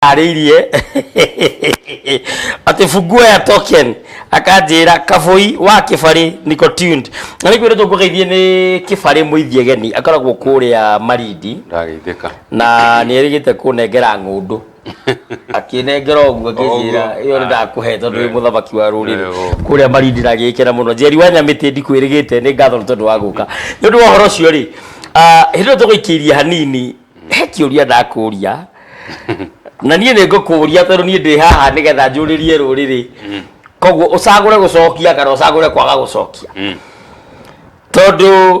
arĩirie atä funguo ya token akanjĩra kabũi wa kĩbarĩ niko tuned na nĩ kwĩrĩtwo ngũgeithie nĩ kĩbarĩ mũithie geni akoragwo kũrĩa marindi na nĩ erĩgĩte kũnengera ng'ũndũ akinengera ũguo ngĩnjĩra ĩyo nĩ ndakũhe tondũ wĩ mũthamaki wa rũrĩrĩ kũrĩa marindi ndagĩkĩra mũno njeri wa nyamĩtĩ ndikwĩrĩgĩte nĩ ngatho nĩ tondũ wa gũka nĩ ũndũ wa ũhoro ũcio rĩ hĩndĩ ĩyo tũgũikĩirie hanini he kĩũria ndakũria na niĩ nĩ ngũkũria tondũ niĩ ndĩ haha nĩgetha njũrĩrie rũrĩrĩ mm. koguo ũcagũre gũcokia kana ũcagũre kwaga gũcokia mm. tondũ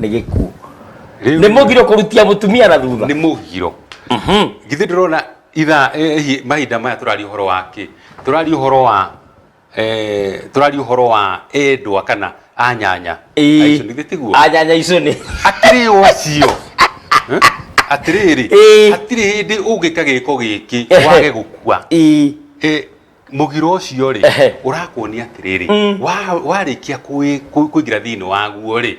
nĩ gĩkuũ Rĩu- nĩ mũgiro kũrutia mũtumia na thutha nĩ mũgiro githĩ ndĩrona itha eh, hi- mahinda maya tũraria ũhoro wa kĩ tũraria ũhoro wa eh, tũraria ũhoro wa endwa kana anyanya Ĩĩ. Aicio, nĩ githĩ tiguo anyanya icio nĩ atirĩ o acio Eh? atĩrĩrĩ Ĩĩ. hatirĩ hĩndĩ ũngĩka gĩko gĩkĩ Ehe. wage gũkua Ĩĩ. Eh, mugiro ucio ri Ehe. urakuonia atiriri Mm. wa- warikia kũwĩ- kũ- kũingira thiini waguo ri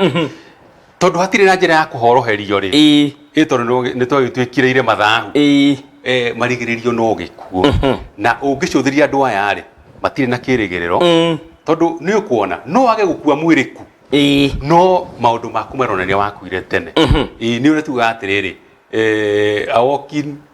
tondu hatire na njira ya kuhoroherio ri ĩĩ ĩ tondu nĩ twagĩtuĩkĩrĩire mathahu ĩĩ eh, marigĩrĩrio no gĩkuo na ũngĩcũthĩria andũ aya rĩ matirĩ na kĩrĩgĩrĩro Mm. tondũ nĩ ũkuona no wage gũkua mwĩrĩ ku ĩĩ no maũndũ maku maronania wakuire tene Ĩĩ, nĩ ũrĩa tugaga atĩrĩrĩ eh, a walking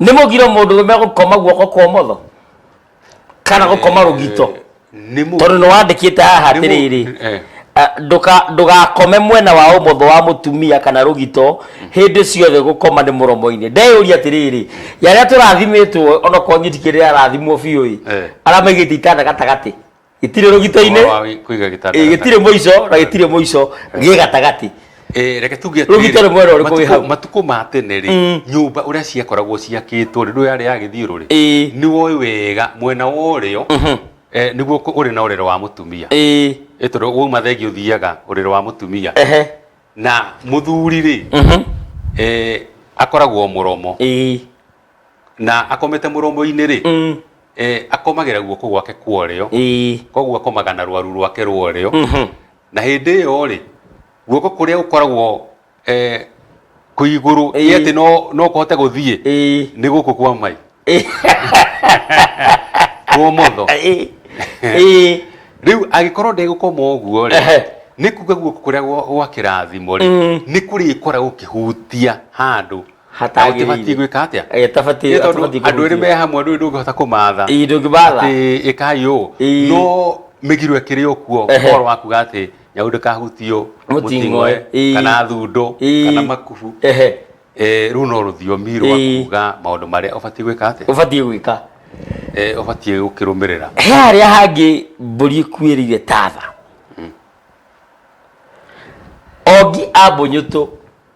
nĩ mũgiro mũndũ rũme gũkoma guoko kwa ũmotho kana gũkoma rũgito nĩ mũ tondũ nĩ wandĩkĩte haha Nĩ mũ- atĩrĩrĩ eh. ah, ndũka- ndũgakome mwena wa ũmotho wa mũtumia kana rũgito hĩndĩ ciothe gũkoma nĩ mũromo-inĩ ndeyũria atĩrĩrĩ yarĩa tũrathimĩtwo onokorwo nyiti kĩrĩa arathimwo biũ ĩ Eh. aramaigĩte itanda gatagatĩ gĩtirĩ rũgito-inĩ Ũhoro wa gĩ- kũiga gĩtanda ĩ, gĩtirĩ gatagatĩ. mũico na gĩtirĩ mũico gĩ gatagatĩ Eh, reke tuge atĩrĩrĩ, Rũgito nĩ mwena ũrĩkũ wĩ matukũ- hau? matukũ ma tene rĩ Mm. nyũmba ũrĩa ciakoragwo ciakĩtwo rĩ ndũ yarĩ ya gĩthiũrũ rĩ Ĩĩ. nĩ woĩ wega mwena wa ũrĩo eh, nĩguo kũ- ũrĩ na ũrĩro wa mũtumia Ĩĩ. Eh, tondũ wauma thengi ũthiaga ũrĩro wa mũtumia Ehe. na mũthuri rĩ Mhm. eh, akoragwo mũromo Ĩĩ. na akomete muromo-inĩ rĩ Mm. eh, akomagĩra guoko gwake kwa ũrĩo Ĩĩ. koguo akomaga na rwaru rwake rwa ũrĩo Mhm. na hĩndĩ ĩyo rĩ guoko kũrĩa gũkoragwo eh, kwĩ igũrũ Ĩĩ. ĩ atĩ no, no kũhote gũthiĩ Ĩĩ. nĩ gũkũ kwa mai Ĩĩ. kwa ũmotho Ĩĩ. Ĩĩ. rĩu agĩkorwo ndegũkoma ũguo rĩ Ehe. nĩ kuga guoko kũrĩa gwa- gwa kĩrathimo rĩ Mm. nĩ kũrĩkora gũkĩhutia handũ hatagĩrĩire Ũtibatiĩ gwĩka atĩa? Eh, tabatiĩ- Nĩ tondũ atabatiĩ andũ erĩ kũhutia. me hamwe ndũĩ ndũngĩhota kũmatha Ii, ndũngĩmatha. Atĩ, ĩkai ũũ Ii. no mĩgiro ĩkĩrĩ o kuo Ehe. ũhoro wa kuga atĩ nyau ndĩkahutio Mũting'oe. Ii. kana thundo Ii. kana makubu Ehe. Eh, rũu no rũthiomi rwa Ii. kuga maũndũ marĩa ũbatiĩ gwĩka atĩa ũbatiĩ gwĩka Eh, ũbatiĩ gũkĩrũmĩrĩra he harĩa hangĩ mbũri ĩkuĩrĩire tatha ongi ambũnyũtũ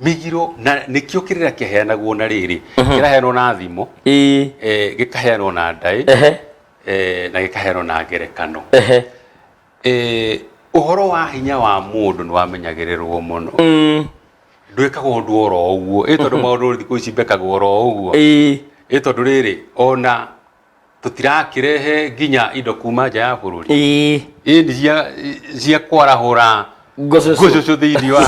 migiro na nĩkĩo kĩrĩra kĩheanagwo na rĩrĩ kĩraheanwo na thimo ĩĩ eh, gĩkaheanwo na ndaĩ ehe eh, na gĩkaheanwo na ngerekano ehe Eh, ũhoro wa hinya wa mũndũ nĩ wamenyagĩrĩrwo mũno Mm, ndwĩkaga ũndũ oro ũguo ĩ tondũ maũndũ thikũ ici mbekagwo oro ũguo ĩĩ ĩ tondũ rĩrĩ ona tũtirakĩrehe nginya indo kuma nja ya bũrũri Ĩĩ. ĩĩ nĩ cia cia kwarahũra Ngũcũcũ. ngũcũcũ thĩinĩ wa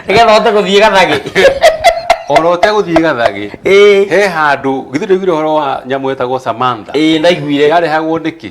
nĩgetha ũhote gũthiĩ gathagĩ ona ũtegũthiĩ gathagĩ Ĩĩ. he handũ githĩ ndũiguire ũhoro wa nyamũ ĩtagwo Samantha ĩĩ ndaiguire yarehagwo nĩkĩ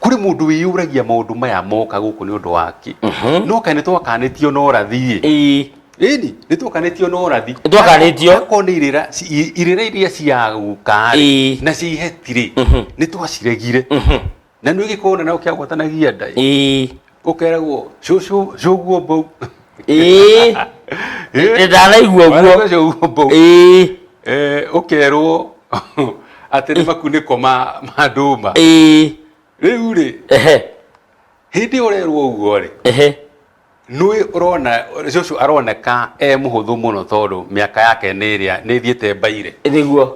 kuri mundu wiyuragia maundu maya moka guku ni undu waki no kai ni twakanitio na urathi ii ini ni twakanitio na urathi Nĩtwakanĩtio. ko ni irira ci- irira iria cia guka Ĩĩ. na cia ihetiri ni twaciregire na ni gikorwo na no kia gwatanagia ndai ii ũkeragwo cũcũ cũguo mbou ĩĩ Ĩĩ. ndaraigua Mwana ũguo ũcio ũguo mbou ĩĩ Eh, ũkerwo atĩ nĩ makunĩko ma ma ndũma ĩĩ rĩu rĩ ehe hĩndĩ ũrerwo ũguo rĩ ehe nũĩ ũrona cũcũ aroneka e mũhũthũ mũno tondũ mĩaka yake nĩ ĩrĩa nĩ ĩthiĩte mbaire nĩguo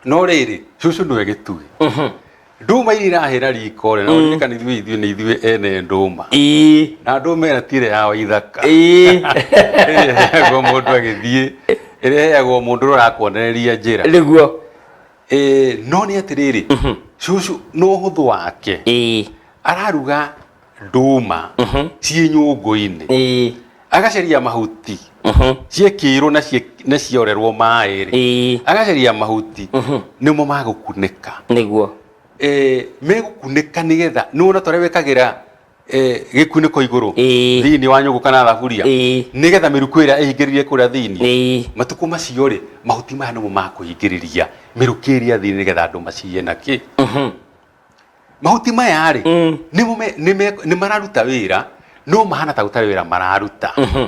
no rĩrĩ cucu nĩwe gĩtugĩ nduma iria irahĩra riko rĩ na ũririkana ithuĩ ithuĩ nĩ ithuĩ ene ndũma ĩĩ na ndũma ĩrĩa ti ĩrĩa ya waithaka ĩĩ ĩrĩa ĩheagwo mũndũ agĩthiĩ ĩrĩa ĩheagwo mũndũ ũrĩa ũrakuonereria njĩra nĩguo Ĩĩ, no nĩ atĩrĩrĩ cucu nĩ ũhũthũ wake ĩĩ araruga nduma ciĩ nyũngũ-inĩ ĩĩ agacaria mahuti ciekĩirwo na cie- na ciorerwo maĩ rĩ ĩĩ agacaria mahuti nĩmo magũkunĩka nĩguo Eh, megũkunĩka nĩgetha nĩwona tũrĩa wĩkagĩra eh, gĩkunĩko igũrũ Ĩĩ. thĩinĩ wa nyũngũ kana thaburia Ĩĩ. nĩgetha mĩrukũ ĩrĩa ĩhingĩrĩrie kũrĩa thĩinĩ ĩĩ matukũ macio rĩ mahuti maya nĩmo makũhingĩrĩria mĩrukĩ ĩrĩa thĩinĩ nĩgetha andũ maciye na kĩ mahuti maya rĩ Mm. nĩ mũme- nĩ me- nĩ mararuta wĩra no mahana ta gũtarĩ wĩra mararuta Mhm.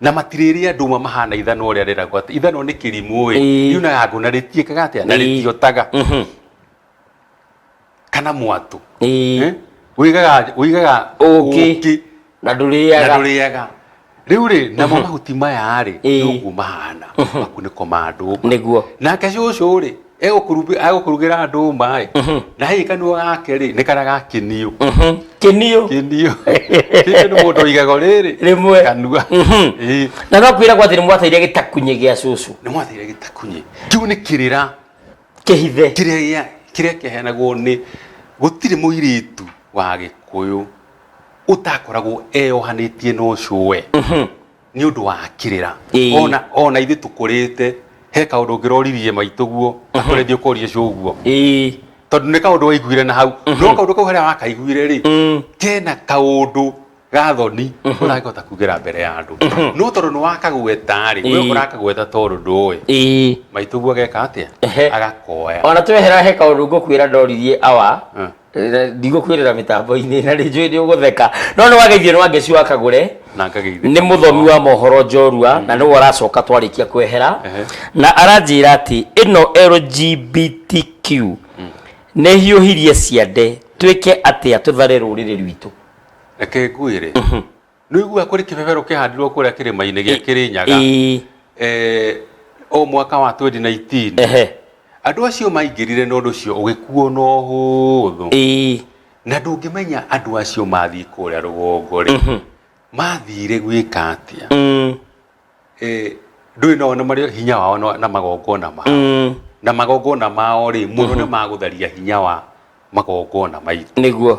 na matirĩrĩa ndũma mahana ithanwa ũrĩa rĩragwo atĩ ithanwa nĩ kĩrimũ ĩ Ĩĩ. riunaga ngũ na rĩtiĩkaga atĩa na Ĩĩ. rĩtiotaga Mhm. kana mwatũ Ĩĩ. Eh? Ũigaga- ũigaga Ũũkĩ. ũũkĩ na na ndũrĩaga ndũrĩaga rĩu rĩ namo mahuti maya rĩ Ĩĩ. nĩũguo mahana makunĩko ma ndũma Nĩguo. nake cũcũ rĩ egũkũrubi- egũkũrugĩra ndũma ĩ na hihi kanua gake rĩ nĩ karĩa gakinio kĩnio kinio kinio nĩ mũndũ igago rĩrĩ Rĩmwe. kanua Mhm. Ĩĩ. na no kwĩra gwathĩ nĩ mwateire gĩtakunye gĩa cũcũ nĩ mwathire gĩtakunye kĩu nĩ kĩrĩra kĩhithe kĩrĩa gĩa kĩrĩa kĩaheanagwo nĩ gũtirĩ mũirĩtu wa gĩkũyũ ũtakoragwo eyohanĩtie na ũcũwe nĩ ũndũ wa kĩrĩra Ĩĩ. ona ona ithuĩ tũkũrĩte he kaũndũ ũngĩroririe maitũguo akore thiĩ ũkorie cũguo ĩĩ tondũ nĩ kaũndũ waiguire na hau no kaũndũ kau harĩa wakaiguire rĩ kena kaũndũ gathoni ũragĩkota kugera mbere ya andũ no tondũ nĩ wakagweta rĩ we Ĩĩ. ũrakagweta tondũ ndũĩ ĩĩ maitũguo ageka atĩa Ehe. agakoya ona twehera he kaũndũ ngũkwĩra ndoririe awa Mm. na ndigũkwĩrĩra mĩtambo-inĩ na rĩnjũĩ nĩ ũgũtheka no nĩ wageithio nĩ wangeci wa kagũre na ngagĩithia nĩ mũthomi wa mohoro njorua na nĩwe ũracoka twarĩkia kwehera Ehe. na aranjĩra atĩ ĩno lgbtq nĩ hiũhirie ciande twĩke atĩa tũthare rũrĩrĩ rwitũ reke ngwĩre nĩ ũiguaga kũrĩ kĩbebero kĩhandirwo kũrĩa kĩrĩma-inĩ gĩa kĩrĩnyaga Ĩĩ. eh, o mwaka wa 2019 Ehe. andũ acio maingĩrire na ũndũ ũcio ũgĩkuo na ũhũthũ Ĩĩ. na ndũngĩmenya andũ acio mathiĩ kũrĩa rũgongo rĩ mathire gwĩka atĩa Mm. Eh, ndũĩ nao nĩ marĩ hinya wao na- na magongona mao Mm. na magongona mao rĩ mũno nĩ magũtharia hinya wa magongona maitũ nĩguo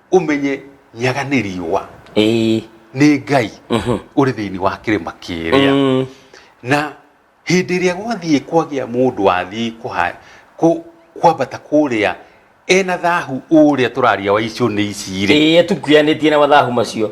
ũmenye nyaga nĩ riũa ĩĩ nĩ ngai mhm, ũrĩ thĩinĩ wa kĩrĩma kĩrĩa mm, na hĩndĩ ĩrĩa gwathiĩ kwagĩa mũndũ wathiĩ kũha- kũ- kwambata kũrĩa ena thahu ũrĩa tũraria wa icio nĩ ici-rĩ ĩĩ tukuyanĩtie na mathahu macio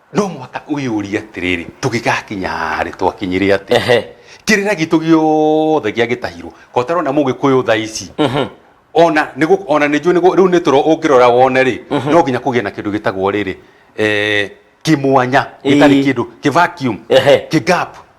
no mũhaka wĩyũrie atĩrĩrĩ tũgĩgakinya harĩ twakinyire atĩ ehe kĩrĩra gitũ gĩothe gĩagĩtahirwo ko tarona mũgĩkũyũ tha ici mhm ona nĩ gũ- ona nĩ njũĩ nĩ gũ- rĩu nĩ tũro ũngĩrora wone rĩ no nginya kũgĩe na kĩndũ gĩtagwo rĩrĩ eh, kĩmwanya gĩtarĩ Ĩĩ. kĩndũ kĩ vacuum Ehe. kĩ gap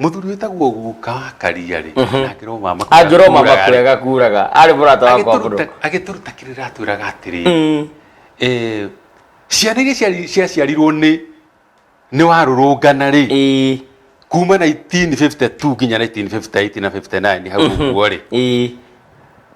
Mũthuri wĩtagwo guka karia-rĩ, Mhm. na ngĩrwo mama kũrĩa angĩrwo mama kuraga-rĩ, kũrega kuraga arĩ mũrata wakwa agĩtũruta- bro agĩtũruta kĩrĩra atwĩraga atĩrĩ Mm. eh, ciana iria ciari- ciaciarirwo nĩ nĩ warũrũngana rĩ Ĩĩ, kuma 1952 nginya 1958 na 59 hau ũguo rĩ ĩĩ.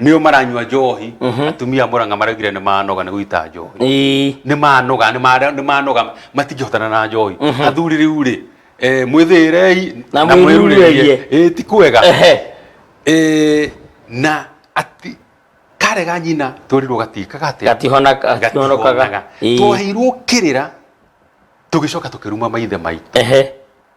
nĩo maranyua njohi atumia a mũranga maraugire nĩ manoga nĩ gũita njohi Ĩĩ. nĩ manoga nĩ mara- nĩ manoga matingĩhotana na njohi athuri rĩu rĩ eh, mwĩthĩĩrei Na mwĩrurerie. Ĩĩ, ti kwega Ehe. Ĩĩ, na ati karega nyina twerirwo gatika gate Gatihona- gatihonokaga. Ĩĩ. twaheirwo kĩrĩra tũgĩcoka tũkĩruma maithe maitũ Ehe.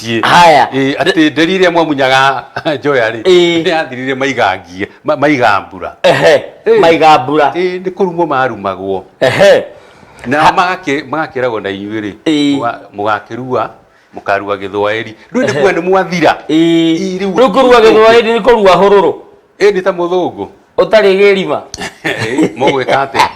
athĩnjĩtie Haya. Ĩ, atĩ nderi ĩrĩa mwamunyaga njoya rĩ Ĩ. nĩyathirire maigangie ma- maigambura ehe Ĩ. maiga mbura Ĩ, nĩ kũrumwo marumagwo ehe na magakĩ- magakĩragwo na inyuĩ rĩ Ĩ. mũga- mũgakĩrua mũkarua gĩthwaĩri rĩu nĩ kuga nĩ mwathira Ĩ, Ĩ, rĩu- rĩu kũrua gĩthwaĩri nĩ kũrua hũrũrũ ĩndĩ ta mũthũngũ ũtarĩ gĩrima mũgwĩka atĩa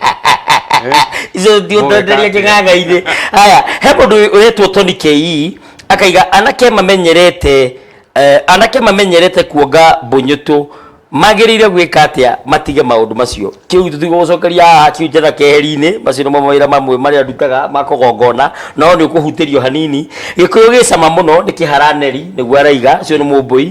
icio ndiondereria kĩng'ang'a-inĩ haya he mũndũ ũretwo toni kei akaiga anake mamenyerete eh, anake mamenyerete kuonga mbũnyũtũ magĩrĩire gwĩka atĩa matige maũndũ macio kĩu tũtigwo gũcokeria haha kiu njĩra keheri-inĩ macio nĩmo mawĩra mamwe marĩa ndutaga ma kũgongona no nĩ ũkũhutĩrio hanini gĩkũyũ gĩ cama mũno nĩ kĩharaneri nĩguo araiga ũcio nĩ mũmbũi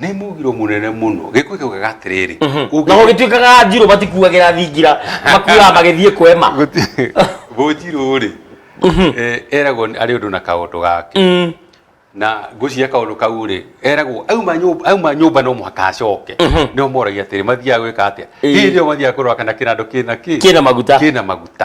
nä mugiro må nene må no gä kå kä ugaga atä rä rä naho gä tuä kaga njirå matikuagä ra thingira makuaga magä thiä kwema gå njirå rä eragwo arä å ndå na kaåndå gake Mm. na ngwĩciria kaũndũ kau rĩ eragwo auma nyũmba auma nyũmba no mũhaka acoke nĩo moragia atĩrĩ mathiaga gwĩka atĩa Ĩĩ. hĩndĩ ĩyo mathiaga kũrora kana kĩnandũ kĩna kĩ Kĩna maguta. kĩna maguta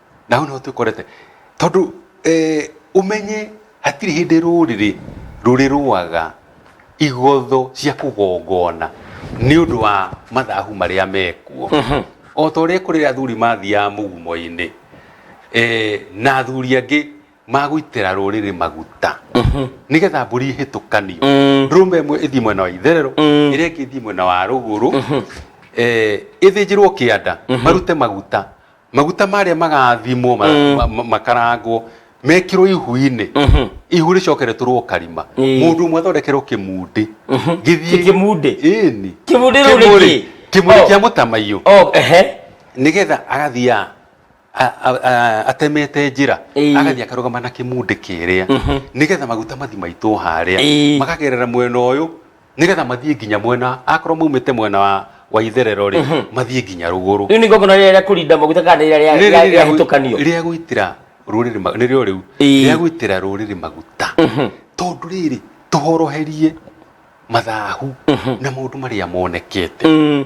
na hau nĩho twĩkorete tondũ eh, ũmenye hatirĩ hĩndĩ rũrĩrĩ rũrĩrũaga igotho cia kũgongona nĩ ũndũ wa mathahu marĩa mekuo o ta ũrĩa kũrĩ athuri mathiaga mũgumo-inĩ eh, na athuri angĩ magũitĩra rũrĩrĩ maguta nĩgetha mbũri ihĩtũkanio ndũrũme ĩmwe ĩthiĩ mwena wa itherero ĩrĩa ĩngĩ ĩthiĩ mwena wa rũgũrũ eh, ĩthĩnjĩrwo kĩanda marute maguta maguta marĩa magathimwo ma- Mm. ma- ma- makarangwo mekĩrwo ihu-inĩ Mhm. ihu rĩcokeretũrwo karima Ĩĩ. mũndũ ũmwe athondekerwo kĩmundi Kĩ- kĩmundi? ĩni Kĩmundi rĩu nĩ kĩĩ? kĩmundi Oh. kĩa mũtamaiyũ Oh, ehe. nĩgetha agathiaga a- a- a- atemete njĩra Ĩĩ. agathiĩ akarũgama na kĩmundi kĩrĩa nĩgetha maguta mathi maitwo harĩa Ĩĩ. makagerera mwena ũyũ nigetha mathiĩ nginya mwena akorwo maumĩte mwena wa wa itherero rĩ mathiĩ nginya rũgũrũ rĩu nĩ ngongona rĩrĩa rĩa kũrinda maguta kana nĩ rĩrĩa rĩa- rĩa- rĩahĩtũkanio rĩa gwĩtĩra rũrĩrĩ ma- nĩrĩo rĩu Ĩĩ. rĩa gwĩtĩra rũrĩrĩ maguta tondũ rĩrĩ tũhoroherie mathahu na maũndũ marĩa monekete Mm,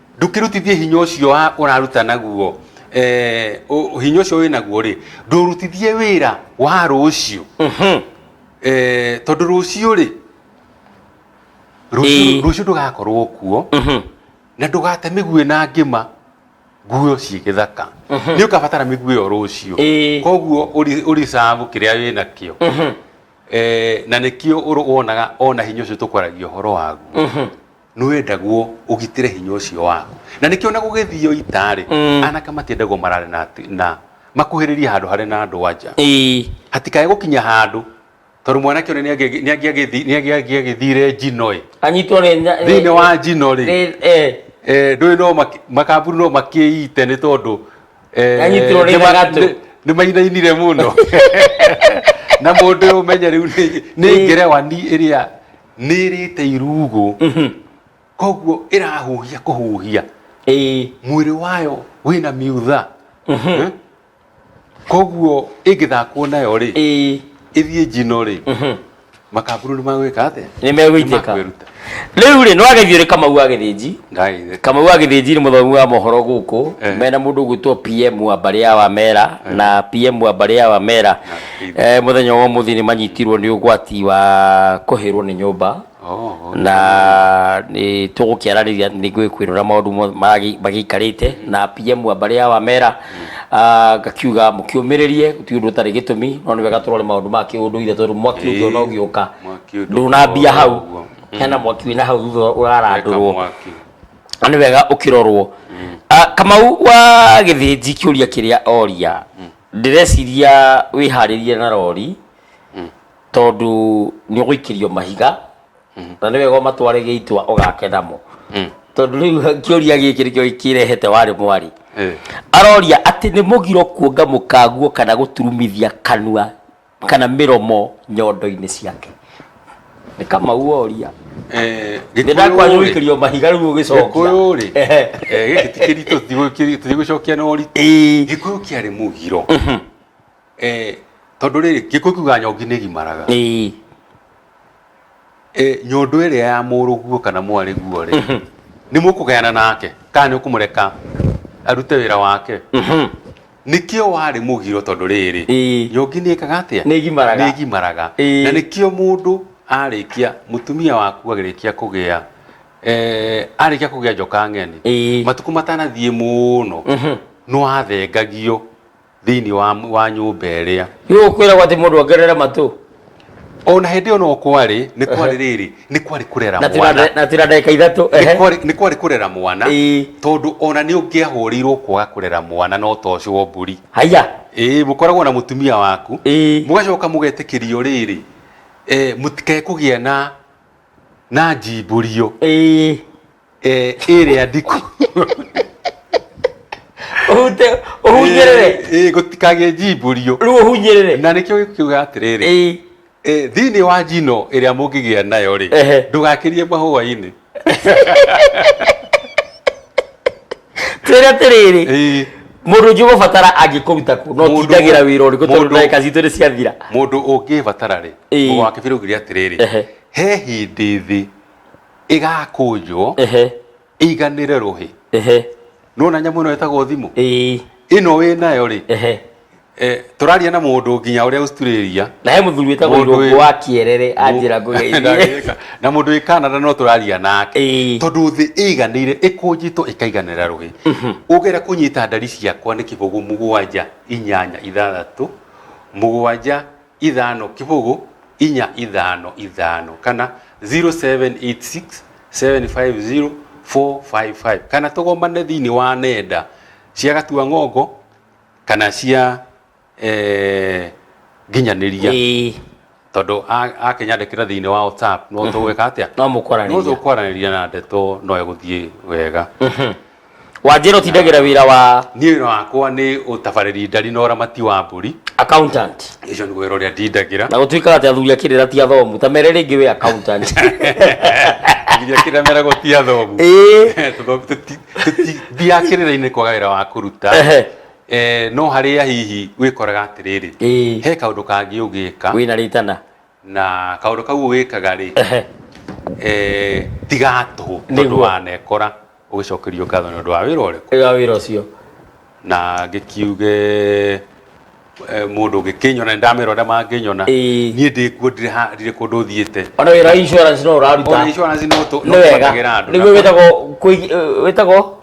ndũkĩrutithie hinya ũcio wa- ũraruta naguo eh, ũ- hinya ũcio wĩ naguo rĩ ndũrutithie wĩra wa rũciũ eh, tondũ rũciũ rĩ rũciũ Ĩĩ. rũciũ ndũgakorwo kuo na ndũgate mĩguĩ na ngĩma nguo ciĩ gĩthaka nĩ ũkabatara mĩguĩ ĩyo rũciũ Ĩĩ. koguo ũri- ũricabu kĩrĩa wĩ nakĩo Eh, na nĩkĩo ũrũ- wonaga ona hinya ũcio tũkwaragia ũhoro waguo nĩ wendagwo ũgitĩre hinya ũcio waku na nĩkĩo na gũgĩthiio ita-rĩ Mm. anake matiendagwo marare na, ati- na makuhĩrĩrie handũ harĩ na andũ anja Ĩĩ. hatikae gũkinya handũ tondũ mwanake ũrĩa nĩangĩ- nĩangĩagĩthi- nĩangĩagĩthire njino-ĩ anyitwo nĩ nya- thĩinĩ wa njino-rĩ nĩ- eh, eh, ndũĩ no maki- makamburu no makĩite nĩ tondũ eh, Anyitirwo nĩ nĩma- thagatũ. nĩ- nĩmainainire mũno na mũndũ ũmenye rĩu nĩ- nĩ ngerewa ni ĩrĩa nä rä te irugå koguo ä rahuhia kå huhia ĩĩ mwä rä wayo wä na miutha Eh? koguo ä ngä thakwo nayo rä ĩĩ ä thiä njino rä makamburu nä magwä ka atä nĩ megũitĩka Nĩmakwĩruta. rĩu rĩ nĩwagethio nĩ kamau wa gĩthĩnji ndagä kamau wa gĩthĩnji nĩ mũthomi wa mohoro gũkũ Eh. mena mũndũ ũgwĩtwo pm wa mbarĩ ya wamera na pm wa mbarĩ ya wamera Eh, muthenya wa muthi ni manyitirwo ni ugwati wa kuhirwo ni nyumba Oh, na ni tugukiarariria ni ngwikwirira maundu mo- magi- magiikarite na PM wa mbari ya wamera ah, ngakiuga mukiumiririe ti undu utari gitumi no ni wega turore maundu ma kiunduire tondu mwaki ungi ona ugiuka Mwaki ũngĩ ndunambia ũkoragwo hau ũguo. hena mwaki wina hau thutha Eka urarandurwo mwaki. na nĩ wega ũkĩrorwo Ah, kamau wa gĩthĩnji kĩũria kĩrĩa oria ndĩreciria wĩharĩrie na rori tondũ nĩ ũgũikĩrio mahiga na nĩ wega ũmatware gĩitwa ũgakenamo tondũ rĩu kĩũria gĩkĩ nĩkĩo kĩrehete warĩ mwarĩ aroria atĩ nĩ mũgiro kuonga mũkaguo kana gũturumithia kanua kana mĩromo nyondo-inĩ ciake nĩ kamau woria Eh, nĩ ndakwanyu Gĩkũyũ-rĩ, wĩkĩrio mahiga rĩu ũgĩcokia Gĩkũyũ-rĩ, Ehe. eh, gĩkĩ ti kĩritũ tigũkĩri- tigũcokia na ũritũ Ĩĩ. gĩkũyũ kĩarĩ mũgiro Eh, tondũ rĩrĩ gĩkũyũ kiuga nyongi nĩ gimaraga Ĩĩ. Eh, nyondo ĩrĩa ya mũrũguo kana mwarĩguo rĩ mhm. nĩ mũkũgayana nake kana nĩ ũkũmũreka arute wĩra wake mhm. nĩkĩo warĩ mũgiro tondũ rĩrĩ nyongi nĩ ĩkaga atĩa nĩ ĩgimaraga na nĩkĩo mũndũ arĩkia mũtumia waku agĩrĩkia kũgĩa eh, arĩkia kũgĩa njoka ng'eni matukũ matanathiĩ mũno mhm. nĩ wathengagio thĩinĩ wa, wa nyũmba ĩrĩa Yũ kwĩragwo atĩ mũndũ ongerere matũ. ona hĩndĩ ĩyo no kwarĩ nĩ kwarĩ rĩrĩ nĩ kwarĩ kũrera Na tira mwana na tira ndagĩka ithatũ. Nĩ Ehe. kwarĩ- nĩ kwarĩ kũrera mwana Ĩĩ. tondũ ona nĩ ũngĩahũrĩirwo kwaga kũrera mwana no ta ũcio wa mbũri Haiya. ĩĩ mũkoragwo na mũtumia waku Ĩĩ. mũgacoka mũgetĩkĩrio rĩrĩ eh, mũtikae kũgĩa na na njimbũrio Ĩĩ. Eh, ĩrĩa ndiku ũhute ũhunyĩrĩre Eh, eh, gũtikagĩe njimbũrio rĩu ũhunyĩrĩre na nĩkĩo gĩkiuga atĩrĩrĩ Ĩĩ. eh, thĩinĩ wa njino ĩrĩa mũngĩgĩa nayo rĩ Ehe. ndũgakĩrie mahũa-inĩ twĩre atĩrĩrĩ Eh, mũndũ ũngĩ ũgũbatara angĩkũruta kũ no Mũndũ- tindagĩra wĩra ũrĩkũ tondũ mũndũ- ndagĩka citũ nĩ ciathira mũndũ ũngĩbatara rĩ Ĩĩ. mũgwakĩbĩrũgiria atĩrĩrĩ Ehe. he hĩndĩ thĩ ĩgakũnjwo ehe ĩiganĩre rũhĩ ehe nona nyamũ ĩno ĩtagwo thimũ ĩĩ ĩno wĩ nayo rĩ ehe eh, tũraria na mũndũ nginya ũrĩa Australia na he mũthuri wĩtagwo Mũndũ irũngũ wĩ- wa kĩerere anjĩra ngũgeithie Ndagĩka. na mũndũ wĩ Canada no tũraria nake Ĩĩ. tondũ thĩ ĩiganĩire ĩkũnjĩtwo ĩkaiganĩra rũhĩ ũgera kũnyita ndari ciakwa nĩ kĩbũgũ mũgwanja inyanya ithathatũ mũgwanja ithano kibugu inya ithano ithano kana 0786 750 455 kana tũgomane thĩinĩ wa nenda cia gatua ng'ongo kana cia eh, nginyanĩria Ĩĩ, tondũ a- akĩnyandĩkĩra thĩinĩ wa whatsapp no tũgwĩka atĩa no mũkwaranĩria no tũkwaranĩria na ndeto no egũthiĩ wega wanjĩra ũtindagĩra wĩra wa niĩ wĩra wakwa nĩ ũtabarĩri ndari na ũramati wa mbũri accountant ũcio nĩguo wĩra ũrĩa ndindagĩra na gũtuĩkaga atĩ athuri akĩrĩra ti athomu ta mere rĩngĩ wĩ accountant nginya kĩrĩa meragwo ti athomu Ĩĩ. Tũthomu tũti- tũti- thiaga kĩrĩra-inĩ kwaga wĩra wa kũruta Ehe. Eh, no harĩa hihi wĩkoraga atĩrĩrĩ Ĩĩ. he kaũndũ kangĩ ũgĩka wĩna rĩtana na kaundu kau wikaga ri eh tiga tu tondu wa nekora ugicokerio ngatho ni undu wa wira uriku iga wira ucio na ngikiuge mundu ngikinyona ndamira uria manginyona nie ndi kuo ndire ha ndire kundu thiete ona wira insurance no uraruta insurance no tu no wega ni witago witago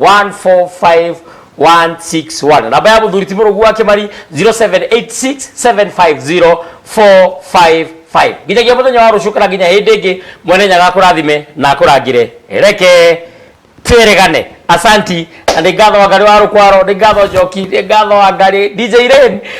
14516 namba ya muthuri ti murugu wake mari 0786750455 nginyagia muthenya wa rucu kana nginya hindi ingi mwene nyaga akurathime na akurangire reke tweregane asanti na nĩ ngatho wa ngari wa rũkwaro nĩ ngatho njoki nĩ ngatho wa ngari dj rain